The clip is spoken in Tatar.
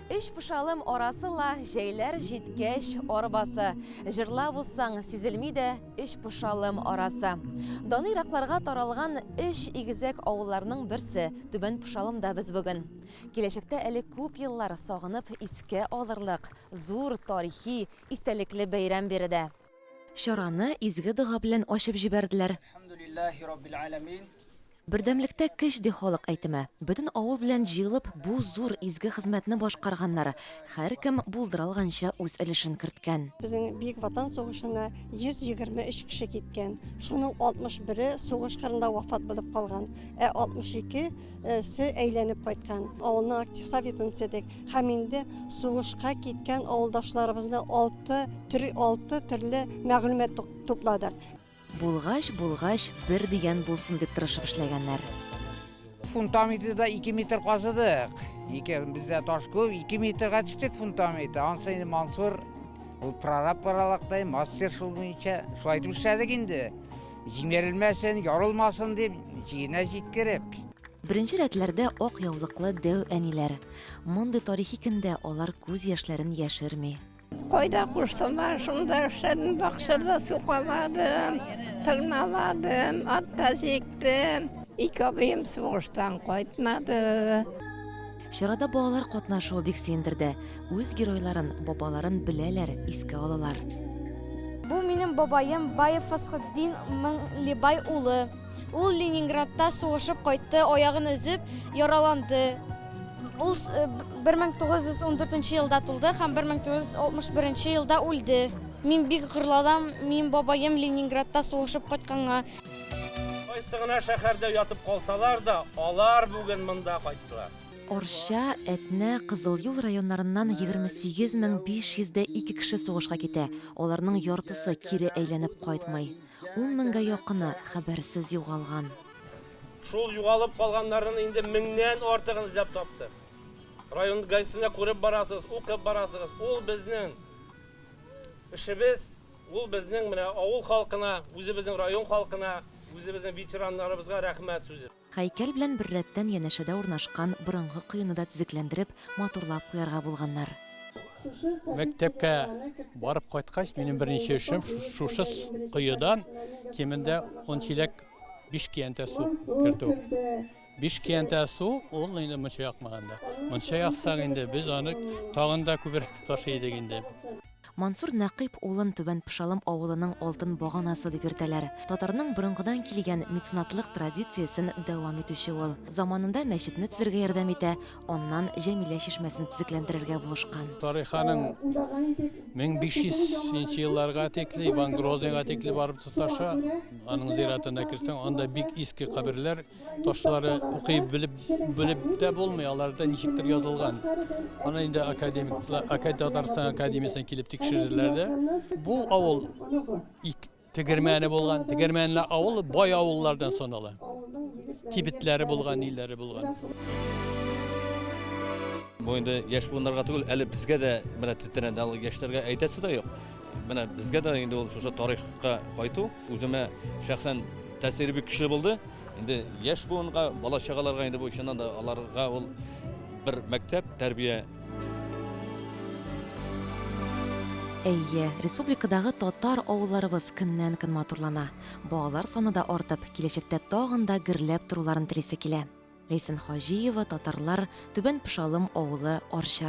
Эш пышалым арасы ла җәйләр җиткәч арбасы. Җырлап узсаң, сизелми дә эш пышалым арасы. Даны иракларга таралган эш игезәк авылларның берсе Түбән Пышалымда без бүген. Киләчәктә әле күп еллар сагынып искә алырлык зур тарихи истәлекле бәйрәм биредә. Чараны изге дога белән ачып җибәрделәр. Әлхәмдүлилләһи раббил әләмин. Бердәмлектә көч ди халык әйтеме. Бөтен авыл белән җыелып, бу зур изге хезмәтне башкарганнар. Һәркем булдыра алганча үз өлешен керткән. Безнең Бөек Ватан сугышына 123 кеше киткән. Шуның 61-е сугыш кырында вафат булып калган. Ә 62 се әйләнеп кайткан, авылның актив советын төзедек һәм инде сугышка киткән авылдашларыбызны алты төр, алты төрле мәгълүмат тук- тупладык. Булгач, булгач, бер дигән булсын дип тырышып эшләгәннәр. Фундаментыда ике метр казыдык. Ике, бездә таш күп, ике метрга төштек фундаментта. Ансы инде Мансур, ул прораб аралактай, мастер шул буенча. Шулай итеп эшләдек инде. Җимерелмәсен, ярылмасын дип, җиенә җиткереп. Беренче рәтләрдә ак яулыклы дәү әниләр. Мондый тарихи көндә алар күз яшьләрен яшерми. Кайда кушсалар, шунда эшләдем, бакчада сукаладым, тырналадым, ат та җиктем. Ике абыем сугыштан кайтмады. Чарада балалар катнашуы бик сөендерде. Үз геройларын, бабаларын беләләр, искә алалар. Бу минем бабаем Баев Фасхетдин Мыңлибай улы. Ул Ленинградта сугышып кайтты, аягын өзеп, яраланды. Ул 1914 э, елда тулды һәм 1961 елда үлде. Мин бик гырлалам, мин бабаем Ленинградта сугышып кайтканга. Кайсы гына шәһәрдә ятып калсалар да, алар бүген монда кайттылар. Арча, Әтнә, Кызыл Юл районнарыннан 28 мең 500 дә ике кеше сугышка китә, аларның яртысы кире әйләнеп кайтмый. Ун меңгә якыны хәбәрсез югалган. Шул югалып калганнарның инде меңнән артыгын эзләп таптык. Район ГАИсенә күреп барасыз, укып барасыгыз, ул безнең эшебез. Ул безнең менә авыл халкына, үзебезнең район халкына, үзебезнең ветераннарыбызга рәхмәт сүзе. Һәйкәл белән беррәттән янәшәдә урнашкан борынгы коены да төзекләндереп, матурлап куярга булганнар. Мәктәпкә барып кайткач, минем беренче эшем шушы коедан кимендә ун чиләк биш киянтә су кертү. Биш киянтә су, ул инде мунча якмаганда. Мунча яксак инде, без аны тагын да күбрәк ташый идек инде. Мансур Нәкыйп улын Түбән Пышалым авылының алтын баганасы дип йөртәләр. Татарның борынгыдан килгән меценатлык традициясен дәвам итүче ул. Заманында мәчетне төзергә ярдәм итә, аннан Җәмилә чишмәсен төзекләндерергә булышкан. Тариханың 1500 нче елларга тикле, Иван Грозныйга тикле барып тоташа. Аның зиратына керсәң, анда бик иске каберләр, Ташлары укый белеп белеп тә булмый, аларда ничектер язылган. Аны инде академиклар, Академия Татарстан академиясенә килеп тикшерделәр дә. Бу авыл тегермәне булган, тегермәнле авыл бай авыллардан санала. Кибетләре булган, ниләре булган. Бу инде яшь буыннарга түгел, әле безгә дә менә тетрәнде, яшьләргә әйтәсе дә юк. Менә безгә дә инде ул шушы тарихка кайту. Үземә шәхсән тәэсире бик көчле булды. Инде яшь буынга, бала чагаларга инде бу чыннан да аларга ул бер мәктәп, тәрбия. Әйе, республикадагы татар авылларыбыз көннән-көн матурлана. Балалар саны да артып, киләчәктә тагын да гөрләп торуларын телисе килә. Ләйсән Хаҗиева, татарлар, Түбән Пышалым авылы, Арча